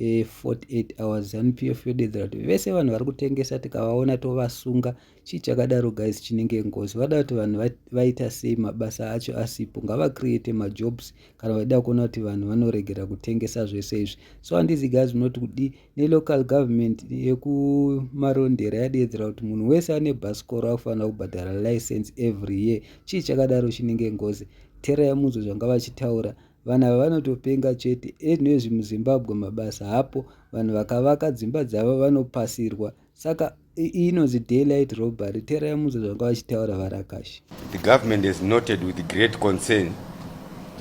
e, 48 hours zanu pf yodedzera kuti vese vanhu vari kutengesa tikavaona tovasunga chii chakadaro guys chinenge ngozi vada kuti vanhu vaita sei mabasa acho asipo ngavacreate majobs kana vaida kuona kuti vanhu vanoregera kutengesa zvese izvi so handizi guys munoti kudii nelocal government yekumarondera yadeedzera kuti munhu wese ane bhasikoro akufanira kubhadhara license every year chii chakadaro chinenge ngozi tereya munzwe zvanga vachitaura Vanhu ava vanotopenga chete anywezvi muzimbabwe mabasa hapo vanhu vakavaka dzimba dzavo vanopasirwa saka inonzi daylight robbery tera yamudza zvanga vachitaura varakashi the government has noted with great concern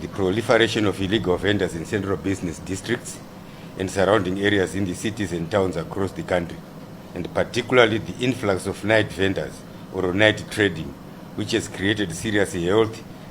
the proliferation of illegal vendors in central business districts and surrounding areas in the cities and towns across the country and particularly the influx of night vendors or night trading which has created serious health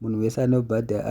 munhu wese anobhadhara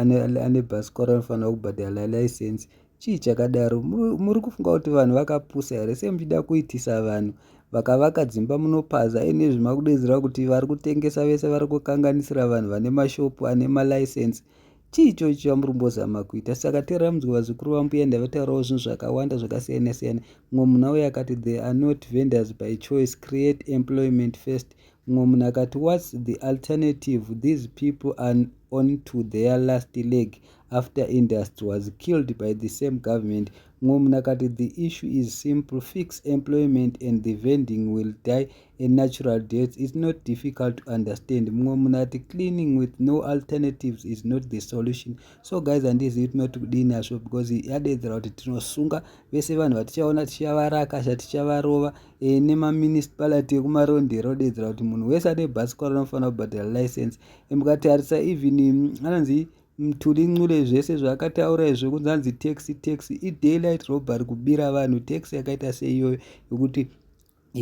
ane bhasikoro anofanira kubhadhara license chii chakadaro muri kufunga kuti vanhu vakapusa here sei muchida kuitisa vanhu vakavaka dzimba munopaza ine zvimakudedzera kuti vari kutengesa vese vari kukanganisira vanhu vane mashopu ane malicense chii ichocho chamuri kumbozama kuita saka teera munzwe vazukuru vambuya ndavataurawo zvinhu zvakawanda zvakasiyana siyana mumwe munhu auya akati they are not vendors by choice create employment first Mumwe munhu akati, What's the alternative? These people are on to their last leg after industry was killed by the same government. Mumwe munhu akati, The issue is simple. Fix employment and the vending will die a natural death. It's not difficult to understand. Mumwe munhu ati, Cleaning with no alternatives is not the solution. So guys, handizivi tinoti kudini hazvo because yadeedzera kuti tinosunga vese vanhu vatichaona tichavaraka, tichavarova e, nemaminisipality ekumarondera odedzera kuti munhu wese ane bhasikoro anofanira kubhadhara license e, mukatarisa even mm, anonzi mthuli ncule zvese zvaakataura izvo kunzi anzi tax tax idaylight robbery kubira vanhu tax yakaita seiyoyo yokuti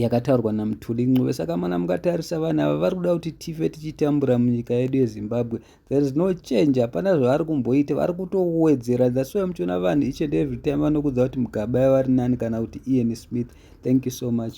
yakataurwa namthuli ncube saka mana mukatarisa vanhu ava vari kuda kuti tife tichitambura munyika yedu yezimbabwe there is no change hapana zvavari kumboita vari kutowedzera that's why muchiona vanhu each and every time vanokudza kuti mugaba yavari nani kana kuti ian smith thank you so much